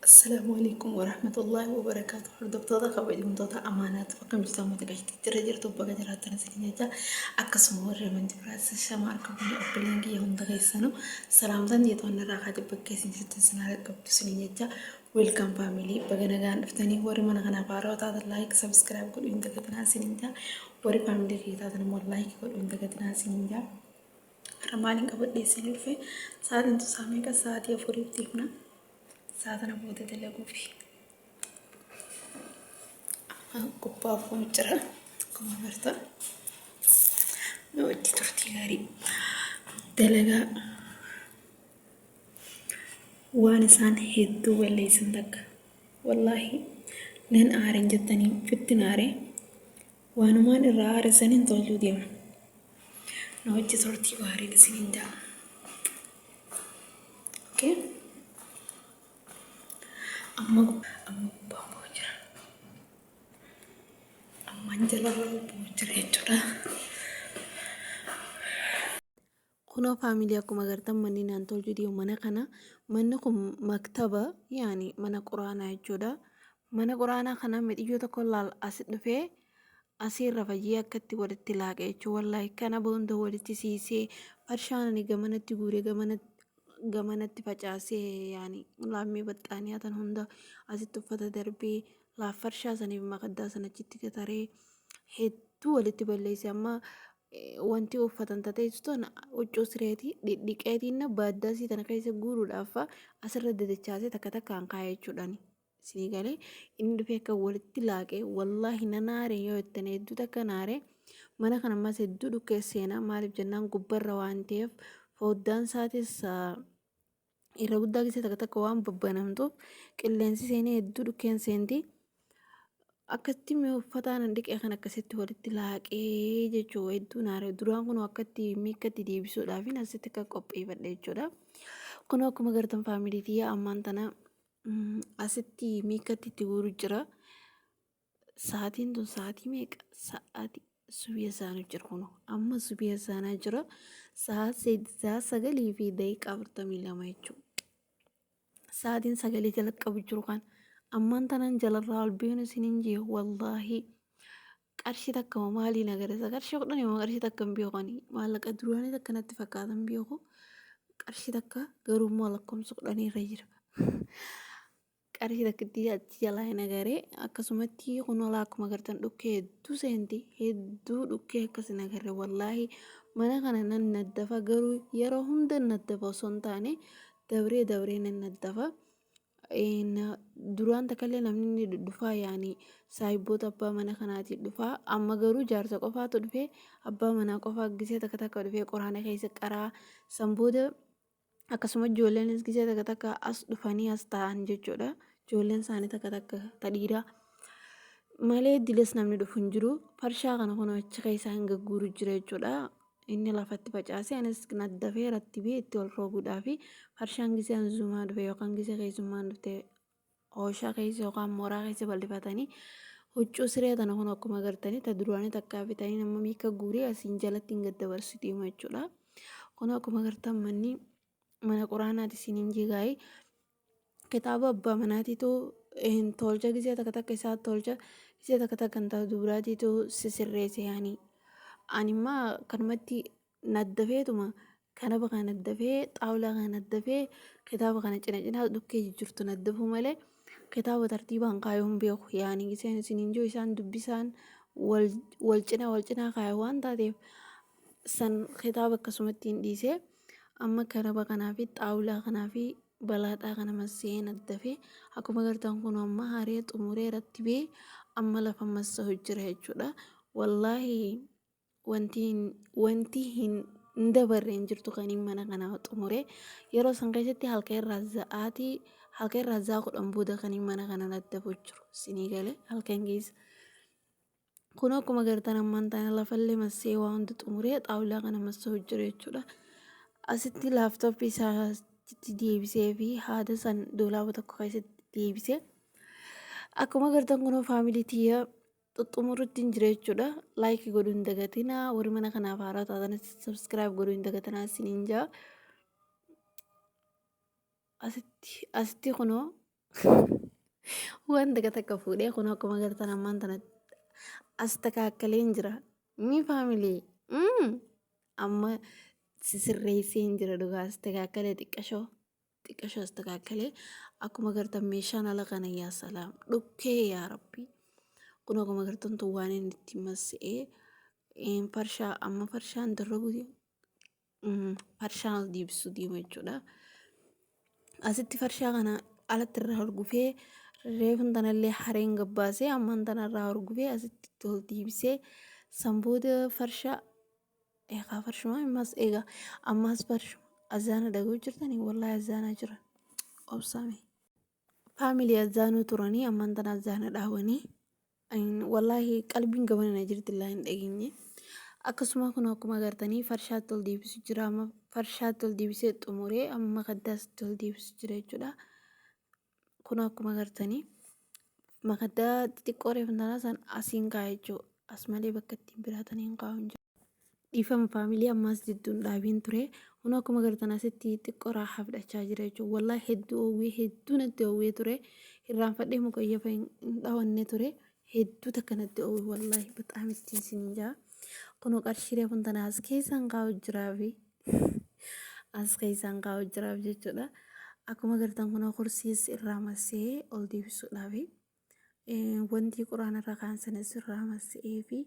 Assalaamu alaikum warahmatullahi wabarakaatu. Hordoftoota kabajamtoota amaanaatu bakka jirtan mata gashitee jira jirtu bakka jiraatan isin jecha akkasuma warri amantii biraas shama harka biyya obboleen kiyya hunda keessanu salaamtaan jeetoon irraa kaate bakka isin jirtan isin haala qabdu isin jecha Welcome family baga nagaan dhuftanii warri mana kanaaf haarawaa taatan like subscribe godhuu hin dagatinaa isiniin jaa warri family kiyya taatan immoo like godhuu hin dagatinaa isiniin jaa har'a maaliin qabadhee isinii dhufe sa'aatiin tu isaa meeqa sa'aatii afuriitti himna sa'a kana booda dalaguufi qophaa'uuf kun jira akkuma barta nu wajji turtii gaarii dalagaa Waan isaan hedduu balleessan takka. Wallaahi nan aaren jettanii ittin aare waanumaan irraa aare saniin tolchuu deema. Na wajji turtii gaariin isiniin ja'a. Okay? Amma amma gubbaan bu'aa jira. Ammaan jalarra bu'aa jira jechuudha. Kunoo faamilii akkuma agartan manni naan tol jedhee mana kana manni kun maktaba yaani mana quraanaa jechuudha. Mana quraanaa kana midhiyyoo tokko laal as dhufee asiirra fayyee akkatti walitti laaqe jechuudha. Wallaahi kana boonda walitti siisee farshaan ani gamanatti guuree gamanatti gamanatti facaasee yaani laammii baxxaaniyaa tan hunda asitti uffata darbee laaffarshaa saniif makaddaa san achitti gataree hedduu walitti balleesse amma eh, wanti uffatan tateessu tana huccuu sireetii dhidhiqeetiin baaddaasii tana keessa guuruudhaaf fa'a asirra dadachaasee takka takkaan kaa'ee jechuudhaan isinii galee inni dhufee akka walitti laaqee wallaahi na naaree yoo ittiin hedduu takka naaree mana kana ammas hedduu dhukkee seenaa maaliif jennaan gubbarra waan ta'eef foddaan isaatis ah, irra guddaa keessa takka takka waan babbanamtuuf qilleensi seenee hedduu dhukkeen seenti akkatti mi'a uffataa nan dhiqee kan akkasitti walitti laaqee jechuu hedduu naare duraan kun akkatti miikkatti deebisuudhaaf hin asitti akka qopheeffadhe jechuudha kun akkuma gartan faamilii tiyyaa ammaan tana asitti miikkatti itti guuru jira. Sa'aatiin tun sa'aatii meeqa? Sa'aati subii azaanuu jira kuno. Amma subii azaanaa jira. Sa'aa sagalii fi daqiiqaa afurtamii lama jechuudha. Sa'aatiin sagalee jalqabu jiru kan ammaan tanaan jalarraa ol beenu isiniin jee wallaahi. Qarshii takka moo maaliin agarsiisa? Qarshii kudhan moo qarshii takka hin beeku ani. Maallaqa duraanii takka natti fakkaata hin beeku. Qarshii takka garuu immoo lakkoofsa kudhanii irra jira. qarshii takkittii achi jalaa hin agaree akkasumatti kunolaa akkuma agartan dhukkee hedduu seenti hedduu dhukkee akkas hin agarre wallaahi mana kana nan naddafa garuu yeroo hunda naddafa osoo hin taane dabree dabree nan naddafa duraan takkallee namni ni dhufaa yaani saayibboota abbaa mana kanaatiin dhufaa amma garuu jaarsa qofaatu dhufee abbaa manaa qofaa gisee takka takka dhufee qoraana keessa qaraa san booda akkasuma ijoolleen gisee takka takka as dhufanii as taa'an jechuudha ijoolleen isaanii takka takka tadhiiraa malee diles namni dhufu hin jiru farshaa kana kun achi keessaa hin gagguuru jira jechuudha inni lafatti facaasee anis naddafee rattibee itti ol roobuudhaa fi farshaan gisee hanzuumaa dhufe yookaan gisee keessummaan dhufte Ooshaa keessa yookaan mooraa keessa bal'ifatanii huccuu siree tana kun akkuma agartanii ta duraanii takkaa bitanii nama miika guurii asiin jalatti hin gaddabarsitu hima jechuudha. Kun akkuma agartan manni mana quraanaati siin hin jigaayee. kitaaba abbaa manaatiitu hin tolcha gisee takka takka isaa tolcha gisee takka takka intaa dubraatiitu sisirreesse yaani animmaa kanumatti naddafeetuma kanaba kana naddafee xaawulaa kana naddafee kitaaba kana cina cinaa dhukkee jijjirtu naddafuu malee kitaaba tartiibaan kaayuu hin beeku yaani iseen isiniin jiru isaan dubbisaan wal wal cinaa wal cinaa kaayu waan taateef san kitaaba akkasumatti hin dhiisee amma kanaba kanaa fi xaawulaa kanaa fi balaadhaa kana massee naddafee akkuma gartaan kun amma haaree xumuree rattibee amma lafa massa hojjira jechuudha wallaahi wanti hin wanti hin hin dabarre hin jirtu kaniin mana kana xumure yeroo san keessatti halka irraa za'aatii halka irraa za'aa kudhan booda kaniin mana kana daddabu jiru sinii gale halkan keessa kun akkuma gartan ammaan taana lafallee massee waa hundi xumuree xaawulaa kana massee hojjire jechuudha asitti laaftoppii isaatti deebisee fi haada san doolaaba tokko keessatti deebisee akkuma gartan kunoo faamilii tiyya xuxxumurrutti hin jira jechuudha laayikii godhuu hin dagatina warri mana kanaaf haaraa taatanis sabskiraayib godhuu hin dagatina isin hin jaa asitti asitti kunoo waan takka takka fuudhee kunoo akkuma agartan ammaan tana as takaakkalee hin jira mii faamilii amma sisirreessee hin jira dhugaa as takaakkalee xiqqashoo xiqasho astakaakkalee akkuma gartan meeshaan ala kana yaa salaam dhukkee yaa rabbi kun akkuma gartan tun waan inni itti masse'ee farshaa amma farshaan darrabu farshaan deebisuu deema jechuudha. Asitti farshaa kana alatti irraa horgufee reefun tanallee hareen gabbaasee amman tanarraa horgufee asitti tol deebisee san booda farshaa Eegaa farshumaa ammas eegaa ammas farshuma azaana dhaguu jirtanii wallahi azaanaa jiran obsaame. Faamilii azaanuu turanii ammaan tana azaana dhaabanii wallahi qalbiin gamanana jirti illaa hin dhageenye. Akkasuma kun akkuma agartanii farshaatti ol deebisu jira amma farshaatti ol deebisee xumuree amma kaddaasitti ol deebisu jira jechuudha. Kun akkuma gartanii makaddaa xixiqqoo reefntanaa san asiin kaa'e jechuu as malee bakka ittiin biraatan hin kaa'u hin jiru. Dhiifama faamilii ammaas jidduun dhaabiin ture kun akkuma gartan asitti xiqqoo raahaa fudhachaa jira jechuudha. Wallaahi hedduu oowwee hedduu natti oowwee ture irraanfadhee mukayyafa hin dhawanne ture hedduu takka natti oowwe wallaahi baxaam ittiin siin jaa. Kunoo qarshii reefun tanaas keessan kaa'u jiraafi. as keessaan kaa'u jiraaf jechuudha. Akkuma gartan kun kursiis irraa massee ol deebisuudhaaf wanti quraana irra kaan sanis irraa massee fi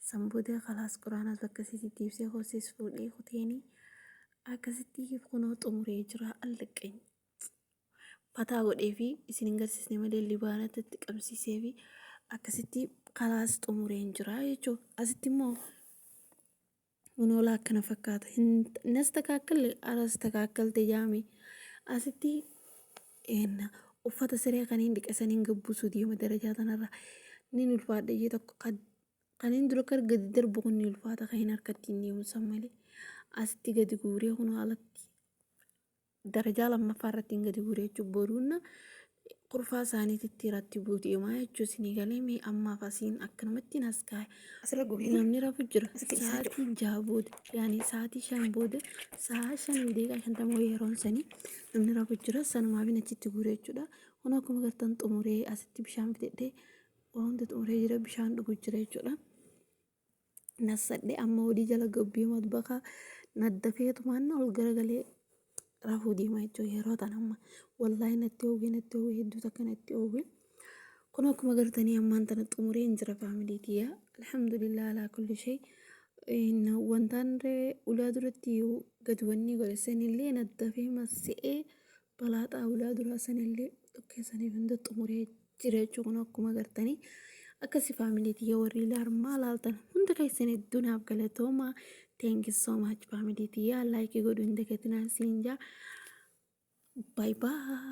san booda kalaas quraanas bakka isiitti deebisee kursiis fuudhee kuteeni akkasitti kunoo xumuree jira allaqany. Fataa godhee fi isin hin garsiisne malee libaanatti itti qabsiisee fi akkasitti kalaas xumureen jira jechuudha. Asitti immoo Unoolaa akkana fakkaata. Nastakaakkalle arastakakkalte jaame. Asitti uffata siree kan hin dhiqe saniin gabbusuu deema darajaa tanarra. Nin ulfaadha jee tokko kan hin dura kar gadi darbu kun ni ulfaata kan hin harkatti hin deemu san malee. Asitti gadi guuree kun alatti. darajaa lammaffaa irratti hin gadi buure jechuun boruunna kurfaa isaaniititti irratti buuti imaa jechuun isinii galee mee ammaaf asiin akkanumatti nas kaa'e. Asirra gubee Namni rafu jira. Asitti isaa jira. Sa'aatiin jaha booda yaani sa'aatii shan booda sa'a shan deeqaa shantamoo yeroon sanii namni rafu jira sanumaaf hin achitti guure jechuudha. Kun akkuma gartan xumuree asitti bishaan fidadhee wanti xumuree jira bishaan dhugu jira jechuudha. nassadhe amma hojii jala gabbii matbakaa naddafeetumaan ol garagalee rafuu deema jechuun yeroo tan amma wallaahi natti oowwee natti oowwee hedduu takka natti oowwee kun akkuma gartanii ammaan tana xumuree hin jira faamilii kiyya alhamdulillah alaa kulli shay wantaan ree ulaa duratti gad wannii godhe senillee naddafee masse'ee balaa xaawulaa duraa sanillee tokkee sanii hunda xumuree jira jechuun kun akkuma agartanii akkasi faamilii tiyya warri laarmaa laaltan hunda keessan hedduu naaf galatooma teenki soomaach faamilii tiyya laayikii godhu hin dagatinaa siin jaa baay baay.